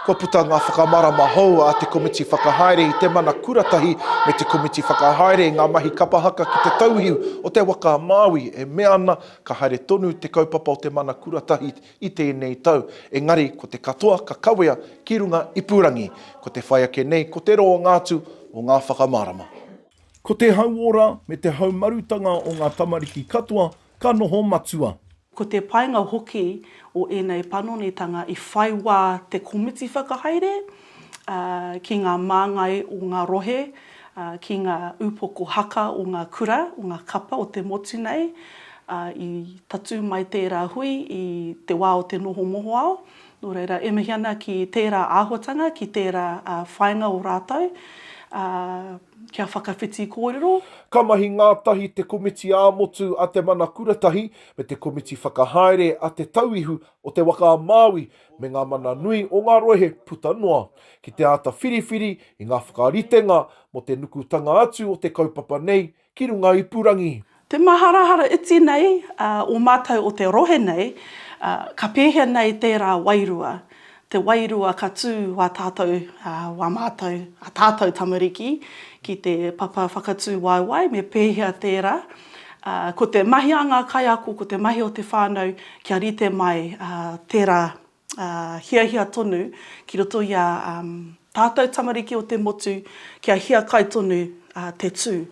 Kua puta ngā whakamārama hou a te Komiti Whakahaere i te Mana Kuratahi me te Komiti Whakahaere i ngā mahi kapa haka ki te tauihu o te waka a Māui e mea ana ka haere tonu te kaupapa o te Mana Kuratahi i tēnei tau, engari ko te katoa ka kawea ki runga ipurangi. Ko te whai ake nei ko te roanga atu o ngā whakamārama. Ko te hauora me te haumarutanga o ngā tamariki katoa ka noho matua. Ko te painga hoki o ēnei panonitanga i whai wā te komiti whakahaere ki ngā māngai o ngā rohe, ki ngā upoko haka o ngā kura, o ngā kapa o te motu nei, i tatū mai tērā hui i te wā o te noho mohoao, Nō reira, e mihi ana ki tērā āhuatanga, ki tērā whāinga o rātou kia whakawhiti kōrero. Ka mahi ngātahi te komiti ā-motu a Te Mana Kuratahi me te komiti whakahaere a Te Tauihu o Te Waka a Māui me ngā mana nui o ngā rohe puta noa, ki te āta whiriwhiri i ngā whakaritenga mō te nukutanga atu o te kaupapa nei ki runga ipurangi. Te maharahara iti nei a o matou o te rohe nei, ka pehea nei tera wairua, te wairua ka tu wa tatou, wa matou, a tatou tamariki ki te papa whakatu waewae, me pehea tera? Ko te mahi a nga kaiako, ko te mahi o te whanau kia rite mai tera hiahia tonu ki roto i a tātou tamariki o te motu kia hiakai tonu te tū.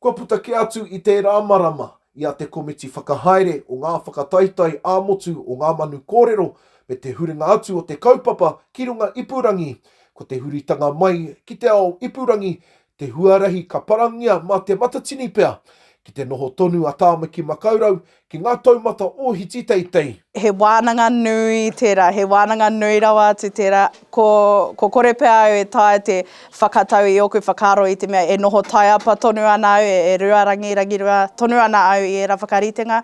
Kua puta kē atu i tērā marama i a te Komiti Whakahaere o ngā Whakataetae ā-Motu o Ngā Manu Kōrero me te huringa atu o te kaupapa ki runga ipurangi, ko te huritanga mai ki te ao ipurangi Te huarahi ka parangia mā te matatini pea ki te noho tonu a Tāmaki Makaurau ki ngā taumata ōhiti teitei. He wānanga nui tērā, he wānanga nui rawa atu tērā. Ko, ko kore pea au e taea te whakatau i ōku whakaaro i te mea e noho taiapa tonu ana au, e, e ruarangi, rangirua tonu ana au i ērā whakaritenga.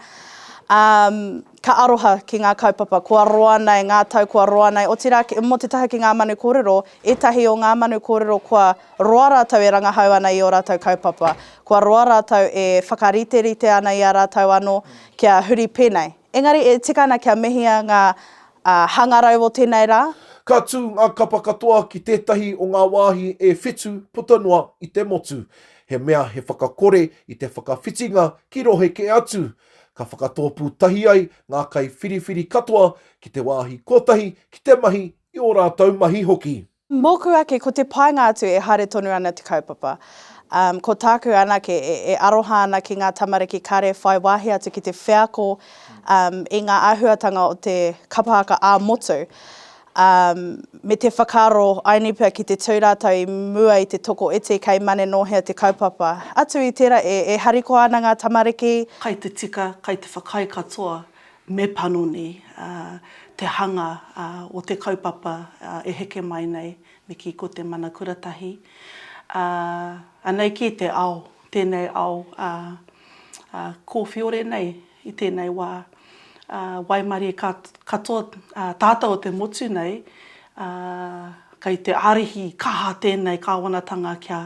Um, ka aroha ki ngā kaupapa kua roa nei, ngā tau kua roa nei, otirā, mō te taha ki ngā manu kōrero, ētahi o ngā manu kōrero kua. Roa rātou e rangahau ana i ō rātou kaupapa. Kua roa rātou e whakariterite ana i a rātou anō kia huri pēnei. Engari e tika ana kia mehia ngā hangarau o tēnei rā. Ka tū ngā kapa katoa ki tētahi o ngā wāhi e whitu puta noa i te motu. He mea he whakakore i te whakawhitinga ki rohe kē atu. Ka whakatōpū tahi ai ngā kaiwhiriwhiri katoa ki te wāhi kotahi ki te mahi i ō rātou mahi hoki. Mōku ake ko te painga atu e haere tonu ana te kaupapa. Umm ko tāku anake e aroha ana ki ngā tamariki kare whai wāhi atu ki te wheako umm i ngā āhuatanga o te kapa haka ā-motu umm me te whakaaro I need pea ki te tū rātou i mua i te toko iti kei mane nō hea te kaupapa. Atu i tērā e harikoa ana ngā tamariki. Kai te tika, kai te whakaae katoa me panoni te hanga o te kaupapa e heke mai nei, me kī ko te mana kuratahi. Anei kī te ao, tēnei ao kōwhiore nei i tēnei wā, waimarie katoa tātou o te motu nei, kei te ārihi kaha tēnei kāwanatanga kia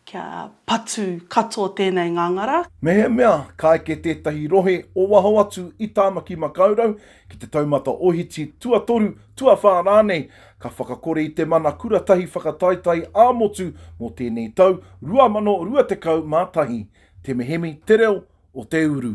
Kia patu katoa tēnei ngangara. Mehemea ka eke tētahi rohe o waho atu i Tāmaki Makaurau ki te taumata ohiti tuatoru, tuawhā rānei, ka whakakore i te mana kuratahi whakataetae ā-motu mō tēnei tau 2021, Te Mehemi, Te Reo o te Uru.